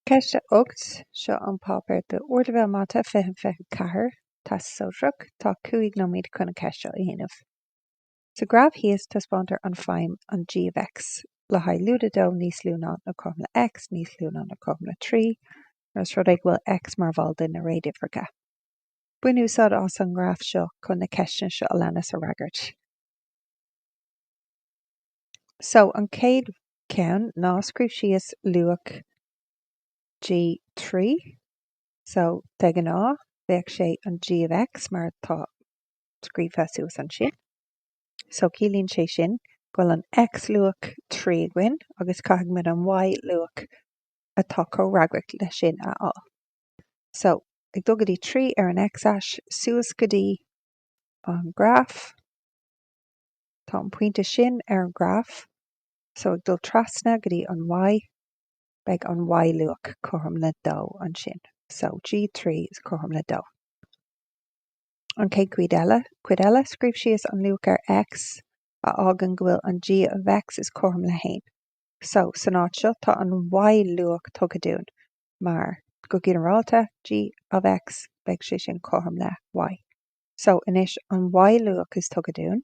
Ceist 8, Seo an páipéar don Ardleibhéal Mata 2024, Teastas Sóisearach. Tá cúig nóiméad chun an cheist seo a dhéanamh. Sa ghraf thíos taispeántar an feidhm an g of X le haghaidh lúide 2 níos lú ná nó cothrom le X níos lú ná nó cothrom le 3 nuair is rud é go bhfuil X mar bhall de na réaduimhreacha. Bain úsáid as an ngraf seo chun na ceisteanna seo a leanas a fhreagairt. So, an chéad cheann ná scríobh síos luach G3. So, de ghnáth, bheadh sé an G of X mar atá scríofa suas ansin. So, ciallaíonn sé sin go bhfuil an X luach 3 againn agus caithfidh muid an Y luach atá comhfhreagrach leis sin a fháil. So, ag dul go dtí 3 ar an X-ais, suas go dtí an graf. Tá an pointe sin ar an ghraf so ag dul trasna go dtí an Y. Beidh an Y-luach cothrom le 2 ansin so G3 is cothrom le 2. An chéad chuid eile, scríobh síos an luach ar X a fhágann go bhfuil an G of X is cothrom le 1. So, san áit seo, tá an Y-luach tugtha dúinn mar, go ginearálta, G of X, beidh sé sin cothrom le Y. So anois, an Y luach is tugtha dúinn,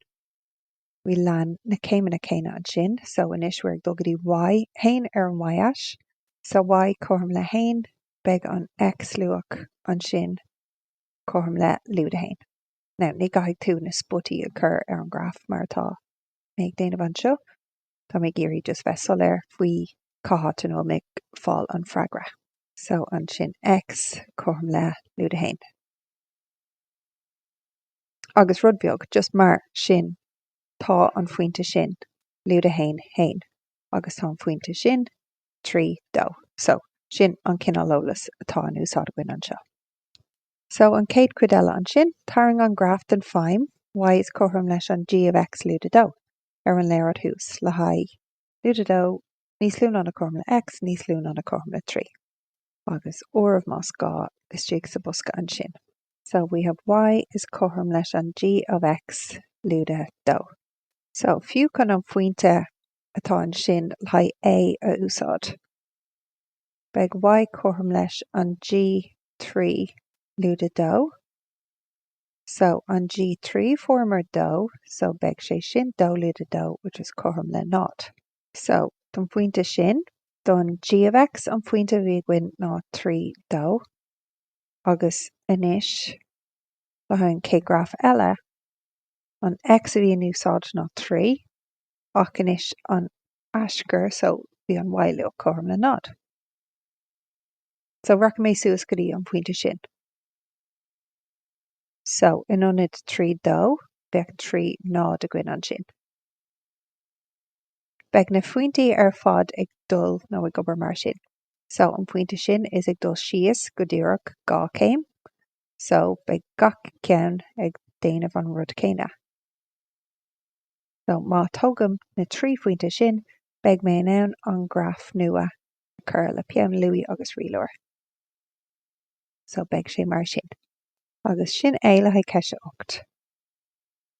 we'll lean na céimeanna céanna ansin, so anois we're ag dul go dtí Y, 1 ar an Y-ais, so Y cothrom le 1, beidh an X luach ansin cothrom le lúide 1. Now, ní chaithfidh tú na spotaí a chur ar an ghraf mar atá mé ag déanamh anseo, tá mé ag iarraidh just bheith soiléir faoi cá háit ina bhfuil mé ag fáil an freagra. So ansin X cothrom le lúide 1. agus rud beag just mar sin tá an phointe sin lúide 1, haon, agus tá an phointe sin trí, dó. So, sin an cineál eolas atá in úsáid againn anseo. So, an céad cuid eile ansin, tarraing an graf den feidhm y is cothrom leis an g of x lúide 2 ar an léaráid thuas le haghaidh lúide 2 níos lú ná nó cothrom le x níos lú ná nó cothrom le trí. agus obair más gá istigh sa bosca ansin. So we have y is cothrom leis an g of x lúide dó. So fiú chun an phointe atá ansin le haghaidh A a úsáid, beidh y cothrom leis an g trí lúide dó. So an g trí fuaireamar dó, so beidh sé sin dó lúide dó, which is cothrom le 0. So, don phointe sin, don G of X, an phointe a bhí againn ná 3, 2. Agus anois, le haghaidh an chéad graf eile, an X a bhí in úsáid ná 3, ach anois an aschur, so, bhí an Y luach cothrom le 0. So, rachaidh mé suas go dtí an phointe sin. So, in ionad 3, 2, beidh 3, 0 againn ansin. Beidh na phointí ar fad ag dul, nó ag obair mar sin. So, an phointe sin, is ag dul síos, go díreach, dhá chéim. So, beidh gach ceann ag déanamh an rud céanna. So, má tógaim na trí phointe sin, beidh mé in ann an graf nua a chur le peann luaí agus rialóir. So, beidh sé mar sin. Agus sin é le haghaidh ceist a ocht.